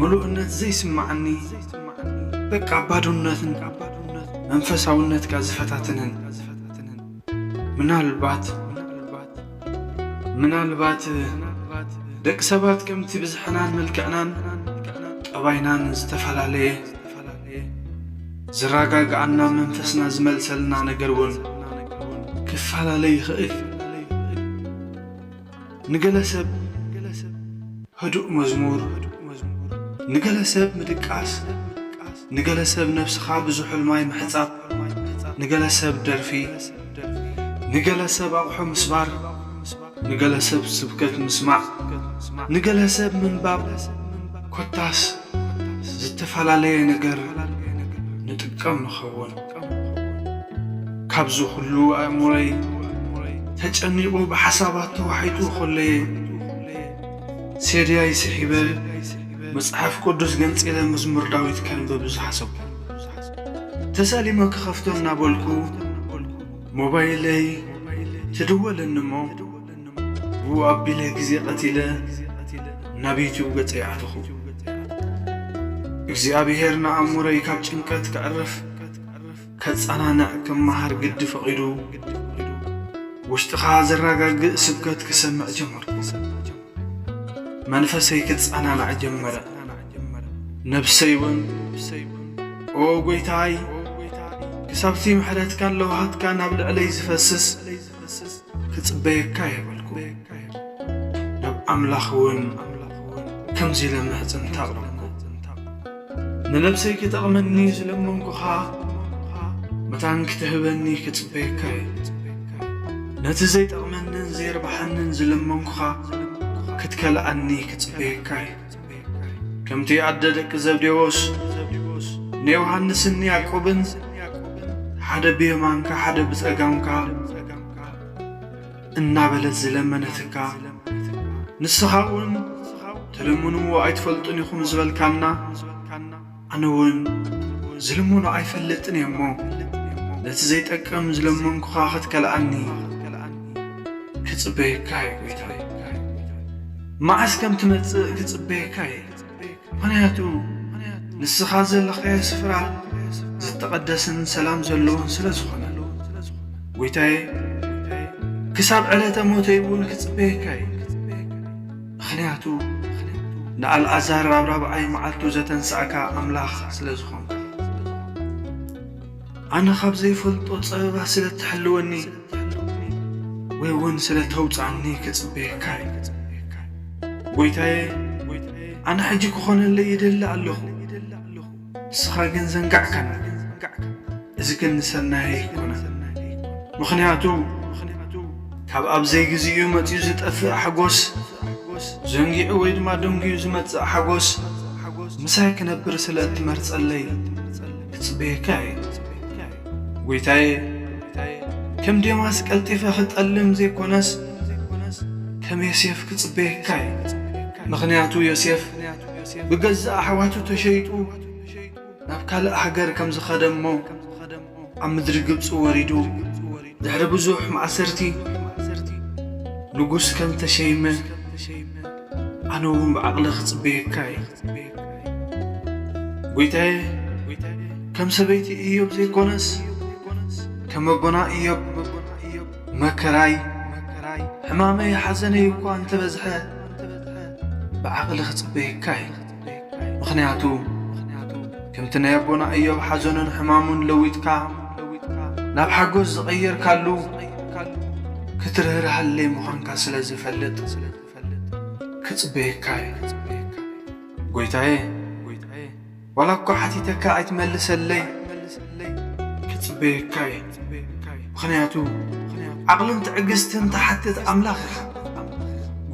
ምሉእነት ዘይስማዓኒ በቃ ባዶነትን መንፈሳውነትካ ዝፈታትንን ምናልባት ምናልባት ደቂ ሰባት ከምቲ ብዝሕናን መልክዕናን ጠባይናን ዝተፈላለየ ዝረጋግኣና መንፈስና ዝመልሰልና ነገር እውን ክፈላለ ይኽእል እዩ። ንገለ ሰብ ህዱእ መዝሙር፣ ንገለ ሰብ ምድቃስ፣ ንገለ ሰብ ነብስኻ ብዝሑል ማይ ምሕጻብ፣ ንገለ ሰብ ደርፊ፣ ንገለ ሰብ ኣቑሑ ምስባር፣ ንገለ ሰብ ስብከት ምስማዕ፣ ንገለ ሰብ ምንባብ ኮታስ ዝተፈላለየ ነገር ንጥቀም ንኸውን። ካብዚ ኩሉ ኣእምሮይ ተጨኒቑ ብሓሳባት ተዋሒጡ ከሎ'የ ሴዲያይ ስሒበ መጽሓፍ ቅዱስ ገንጺለ መዝሙር ዳዊት ከንብብ ዝሓሰብኩ። ተሳሊመ ክኸፍቶ እናበልኩ ሞባይለይ ትድወለኒ'ሞ፣ ብኡ ኣቢለ ግዜ ቐቲለ ናብ ዩቱብ ገጸይ ኣተኹ። እግዚኣብሄር ንኣእምሮይ ካብ ጭንቀት ከዕርፍ ከጸናንዕ ክመሃር ግዲ ፈቒዱ ውሽጥኻ ዘረጋግእ ስብከት ክሰምዕ ጀመርኩ። መንፈሰይ ክጸናናዕ ጀመረ፣ ነብሰይ እውን ኦ ጐይታይ ክሳብቲ ምሕረትካን ለውሃትካን ኣብ ልዕለይ ዝፈስስ ክኸስስ ክጽበየካ የብልኩ ናብ ኣምላኽ እውን ከምዚ ኢለ ምሕጽንታ ኣቕረብኩ ንነብሰይ ክጠቕመኒ ዝለመንኩኻ መታን ክትህበኒ ክጽበየካ እዩ ነቲ ዘይጠቕመንን ዘይርብሓንን ዝለመንኩኻ ክትከልኣኒ ክጽበየካ እዩ ከምቲ ኣደ ደቂ ዘብዴዎስ ንዮሃንስን ያዕቆብን ሓደ ብየማንካ ሓደ ብጸጋምካ እናበለት ዝለመነትካ ንስኻ እውን ትልምንዎ ኣይትፈልጡን ኢኹም ዝበልካና ኣነ ውን ዝልሙኖ ኣይፈልጥን እየ እሞ ነቲ ዘይጠቅም ዝለመንኩኻ ክትከልኣኒ ክጽበየካ እየ ጎይታይ መዓስ ከም ትመጽእ ክጽበየካ እየ ምኽንያቱ ንስኻ ዘለኻዮ ስፍራ ዝተቐደስን ሰላም ዘለዎን ስለ ዝኾነ ጎይታዬ ክሳብ ዕለተ ሞተይ እውን ክጽበየካ እየ ምኽንያቱ ንኣልኣዛር ኣብ ራብዓይ መዓልቱ ዘተንሳእካ ኣምላኽ ስለ ዝኾንካ። ኣነ ካብ ዘይፈልጦ ጸበባ ስለ እትሕልወኒ ወይ እውን ስለ እተውጽኣኒ ክጽበየካ እየ። ጐይታየ፣ ኣነ ሕጂ ክኾነለይ ይደሊ ኣለኹ። ንስኻ ግን ዘንጋዕካና እዚ ግን ንሰናይ ኣይኮነን ምኽንያቱ ካብ ኣብ ዘይግዚኡ መጺኡ ዝጠፍእ ሓጎስ ዘንጊዑ ወይ ድማ ደንጊዩ ዝመጽእ ሓጎስ ምሳይ ክነብር ስለ እትመርጸለይ ክጽበየካ እየ ጐይታየ ከም ዴማስ ቀልጢፈ ክጠልም ዘይኮነስ ከም ዮሴፍ ክጽበየካ እየ ምኽንያቱ ዮሴፍ ብገዛእ ኣሕዋቱ ተሸይጡ ናብ ካልእ ሃገር ከም ዝኸደ እሞ ኣብ ምድሪ ግብጺ ወሪዱ ድሕሪ ብዙሕ ማእሰርቲ ንጉስ ከም ተሸይመ ኣነ እውን ብዓቕሊ ክጽበየካ እየ ጐይታየ ከም ሰበይቲ እዮብ ዘይኮነስ ከም ኣቦና እዮብ መከራይ ሕማመይ ሓዘነይ እኳ እንተበዝሐ ብዓቕሊ ክጽበየካ እዩ ምኽንያቱ ከምቲ ናይ ኣቦና እዮብ ሓዘኑን ሕማሙን ለዊጥካ ናብ ሓጎስ ዝቐየርካሉ ክትርህርሃለይ ምዃንካ ስለ ዝፈልጥ ክጽበየካ እዩ ጐይታዬ ዋላ እኳ ሓቲተካ ኣይትመልሰለይ ክጽበየካ እየ ምኽንያቱ ዓቕልን ትዕግስትን ትሓትት ኣምላኽ ኢኻ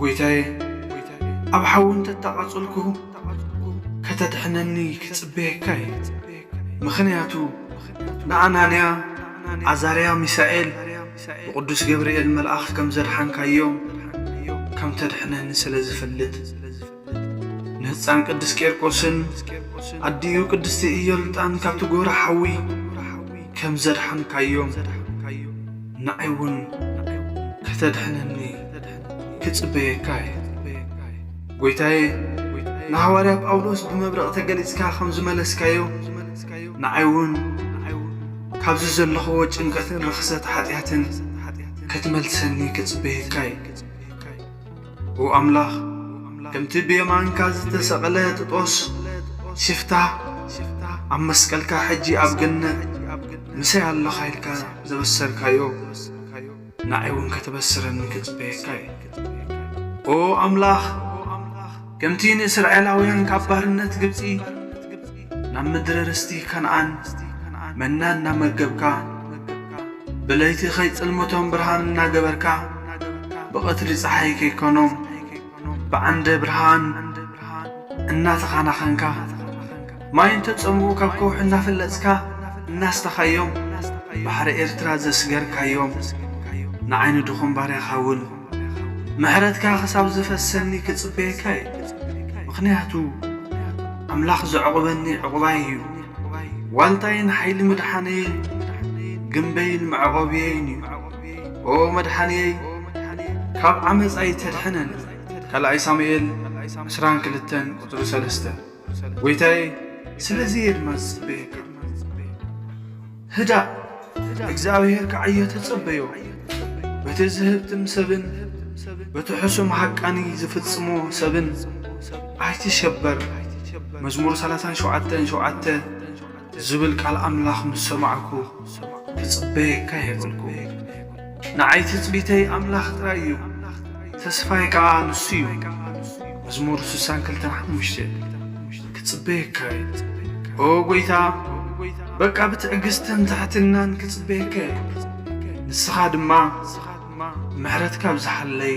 ጐይታየ ኣብ ሓዊ እንተተቓጸልኩ ከተድሕነኒ ክጽበየካ እየ ምኽንያቱ ንኣናንያ ዓዛርያ ሚሳኤል ብቕዱስ ገብርኤል መልኣኽ ከም ዘድሓንካዮም ከም ተድሕነኒ ስለ ዝፈልጥ ንህፃን ቅዱስ ቄርቆስን ኣዲኡ ቅድስቲ እዮልጣን ካብቲ ጎረ ሓዊ ከም ዘድሓንካዮም ንዓይ እውን ከተድሕነኒ ክጽበየካ እየ። ጐይታዬ ንሃዋርያ ጳውሎስ ብመብረቕ ተገሊጽካ ከም ዝመለስካዮ ንዓይ እውን ካብዚ ዘለኹዎ ጭንቀትን ርኽሰት ኃጢኣትን ክትመልሰኒ ክጽበየካ እየ። ኦ ኣምላኽ ከምቲ ብየማንካ ዝተሰቕለ ጥጦስ ሲፍታ ኣብ መስቀልካ ሕጂ ኣብ ገነት ምሳይ ኣለኻ ኢልካ ዘበሰርካዮ ንኣይ እውን ከተበስረኒ ክጽበየካ እየ ኦ ኣምላኽ ከምቲ ንእስራኤላውያን ካብ ባርነት ግብጺ ናብ ምድሪ ርስቲ ከነኣን መና እናመገብካ ብለይቲ ኸይጽልምቶም ብርሃን እናገበርካ ብቐትሪ ፀሓይ ከይኮኖም ብዓንደ ብርሃን እናተኻናኸንካ ማይ እንተጸምኡ ካብ ከውሒ እናፈለጽካ እናስተኻዮም ባሕሪ ኤርትራ ዘስገርካዮም ንዓይኒ ድኹም ባርያኻ እውን ምሕረትካ ክሳብ ዝፈሰኒ ክጽበየካ እየ ምኽንያቱ ኣምላኽ ዘዕቑበኒ ዕቑባይ እዩ ዋልታይን ሓይሊ ምድሓነየይን ግምበይን መዕቖብየይን እዩ ኦ መድሓንየይ ካብ ዓመፃይ ተድሕነኒ ካልኣይ ሳሙኤል ዕስራን ክልተን ቁፅሪ ሰለስተ ጎይታዬ ስለዚ እየ ድማ ዝጽበየካ ህዳእ እግዚኣብሔር ክዓዮ ተጸበዮ በቲ ዝህብትም ሰብን በቲ ሕሱም ሃቃኒ ዝፍጽሞ ሰብን ኣይትሸበር መዝሙር 37 ሸውዓተ ዝብል ቃል ኣምላኽ ምስ ሰማዕኩ፣ ክጽበየካ እየ በልኩ። ንዓይ ትጽቢተይ ኣምላኽ ጥራይ እዩ፣ ተስፋይ ከኣ ንሱ እዩ። መዝሙር ስሳን ክልተን ሓሙሽተ። ክጽበየካ እየ። ኦ ጐይታ፣ በቃ ብትዕግስትን ትሕትናን ክጽበየካ እየ። ንስኻ ድማ ምሕረትካ ኣብዝሓለይ።